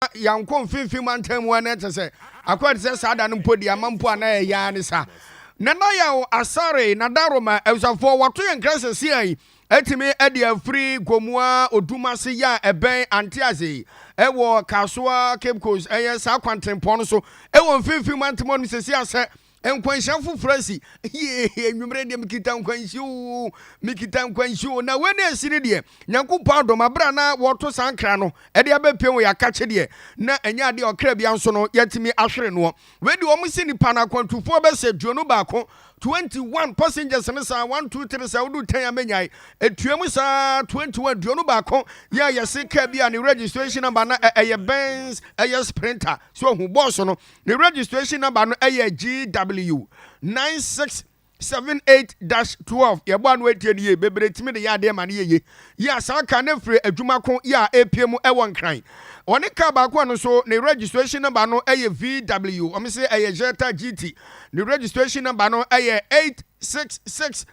na yɛankɔ mfimfini mantam mu a, na ɛkyɛ sɛ akɔyɛ te sɛ saa da no mpo deɛ ama mpo a na ɛyɛ ara ne sa. Nana Yaw Asare, Nadaroma, abusuafoɔ wɔato yɛn nkra sɛ Sia yi atumi adi afiri Gomoa Odumase yɛ a ɛbɛn Antease yi wɔ Kasoa Cape Coast ɛyɛ saa kwantempɔn no so ɛwɔ mfimfini mantam hɔ nom sɛ Sia sɛ Nkwanhyia foforɔ asi. Yee, anwummerɛ deɛ mekita nkwanhyia oo, mekita nkwanhyia oo. Na wei na asi no deɛ, Nyankopɔn adom, aberɛ a na wɔreto saa nkra no de abɛpue wɔ yɛakakye deɛ, na ɛnyɛ adeɛ a ɔkra biara nso no yɛatumi ahwere noɔ. Wei deɛ wɔn se nipa no akwantufoɔ bɛ sɛ duonu baako, 21, passengers no saa, one, two, three, saa woduu tan a mɛnyae. Ɛtua mu saa, 21, duonu baako, yɛ a yɛse kaa bi a ne registration number na ɛyɛ Benz, ɛyɛ Sprinter, so ahu, bɔɔso no, Ne registration number no ɛyɛ GW nine six seven eight dash twelve. Yɛbɔ ano etie no yie. Bebree tumi de yɛ adeɛ ma no yɛ yie. Yi asaa ka ne firi adwuma ko yɛ a epie mu ɛwɔ Nkran. Ɔne car baako a no nso ne registration number no ɛyɛ VW. Wɔn se ɛyɛ Jetta GT. Ne registration number no ɛyɛ eight six six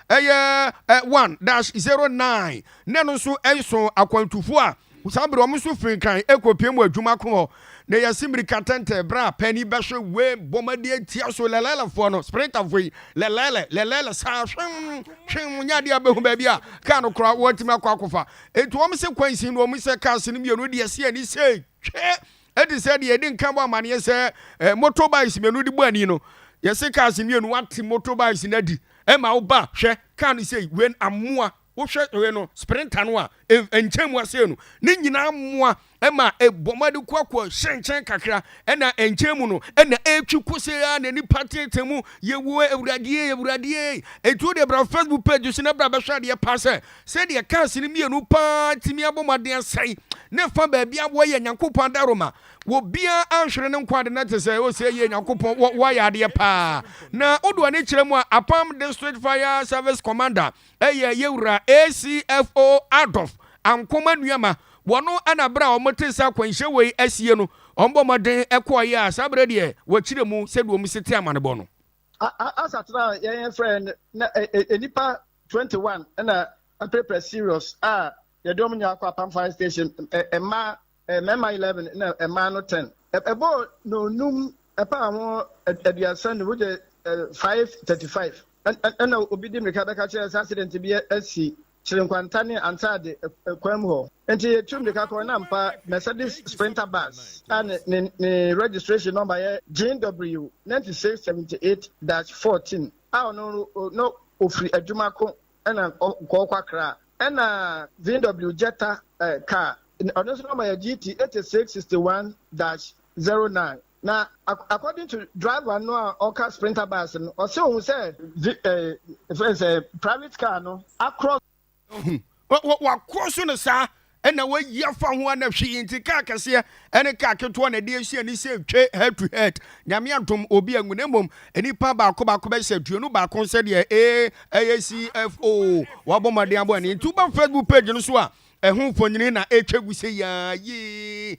ɛyɛ one dash zero nine. Na ɛno nso ɛso akwantufo a. Saa bere wɔn nso fii kan kopiam wɔ adwuma ko hɔ, na yɛasi mmirika tɛntɛn bere a panyin bɛhwe wee bom adi atia so. Lelelefoɔ no, Sprinterfoɔ yi, lelele, lelele saa, hwem, hwem, nyɛ adeɛ a bɛhu baabi a kaa no koraa wɔatumi akɔ akɔfa. Enti wɔn sɛ kwan sin na wɔn sɛ cars no mmienu de asi ani sei, hwɛ, ɛte sɛ deɛ yɛdi nkan bɔ amanneɛ sɛ eh, motorbikes mmienu de bɔ ani no. Yɛse cars mmienu, woate motorbikes no adi, ɛma woba, hwɛ, kaa no sei, wen, amoa. Wohwɛ wei no, sprinter no a nkyɛn mu asenu ne nyinaa mmoa ma ɛbɔ ma de kɔ akɔ hyɛ nkyɛn kakra ɛna nkyɛn mu no ɛna ɛretwi kɔsɛ a na nipa tete mu yɛwɔ awuradeɛ awuradeɛ ɛtuo deɛ bra Facebook page so na bra bɛhwɛ adeɛ paa sɛ sɛdeɛ cars no mmienu paa tumi abɔ mu adeɛ asɛe ne fa baabi a wɔyɛ nyankopɔn adaroma wɔbia anhwere ne nkwa ade na te sɛ ɔsɛ yɛ nyankopɔn wɔayɛ adeɛ paa na wodoɔ ne kyerɛ mu a apam district fire service commander Ɛyɛ yɛ wura ACFO Adolf Ankomah Nuama, wɔno na berɛ a wɔn tee sɛ akwanhyɛ wei asie no, wɔn bɔ mmɔden kɔɔeɛ a saa berɛ deɛ wɔkyerɛ mu sɛdeɛ wɔn si te amanebɔ no. Asa tena a yɛn frɛ no na nnipa 21 na apirapira serious a yɛde wɔn nyinaa kɔ Apam Fire Station, mmaa mmarima eleven na mmaa no ten. Ɛbɔɔ nnɔnnum ɛpaa ho aduasa nnum wogyɛ five thirty five. Ɛna obi di mmirika bɛka kyerɛ sɛ accident bi asi Kyerenkwanta ne Antaade kwan mu hɔ. Nti yɛtu mmirika kɔɔ na ampa Mercedes Sprinter bus a ne ne registration number yɛ JW ninety six seventy eight dash fourteen a ɔno no na ɔfiri adwuma ko Ɛna nkɔɔ kɔ Accra. Ɛna VW Jetta eh, car, ɔno nso na ɔma yɛ GT 8661-09. Na according to driver no a ɔka Sprinter bus no, ɔse ohu sɛ vi, eh, efrɛ sɛ private car no across. Ohu, wɔ, wɔ, wɔacross no saa, na wayi afa ho a na hwee nti car kɛseɛ ne car ketewa na ɛde ahyia ne sɛ twe head to head nyame adom obi anwu na mmom nnipa baako baako bɛhyɛ aduonu baako sɛdeɛ ee ɛyɛ CFO wabɔ mmɔden abɔ ani nti woba Facebook page no so a ɛho mfonini na ɛtwa gu sɛ yaa yee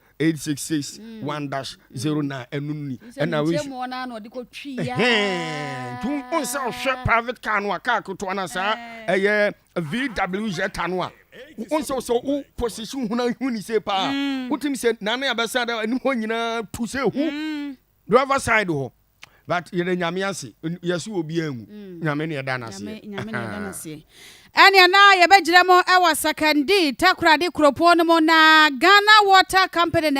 eight six six hmm. one dash hmm. zero nine ɛnu ni ɛna wei nkyɛn mu ɔna na ɔde kɔ twi ya ɛhɛn tun o nsɛ ɔhwɛ private car no a car ketewa na saa ɛyɛ vw zeta no a o nsɛ ɔsɛ o position huna hu ni se paa o ti mi sɛ nane abɛsa da ɛni hɔ nyinaa tu sɛ hu driver side hɔ. but yɛda nyame ase yɛse obiaa nwu mm. nyame ne ɛda no aseɛ ɛneɛ na yɛbɛgyina mu ɛwɔ sakandi takorade kuropɔn no mu na ghana water company na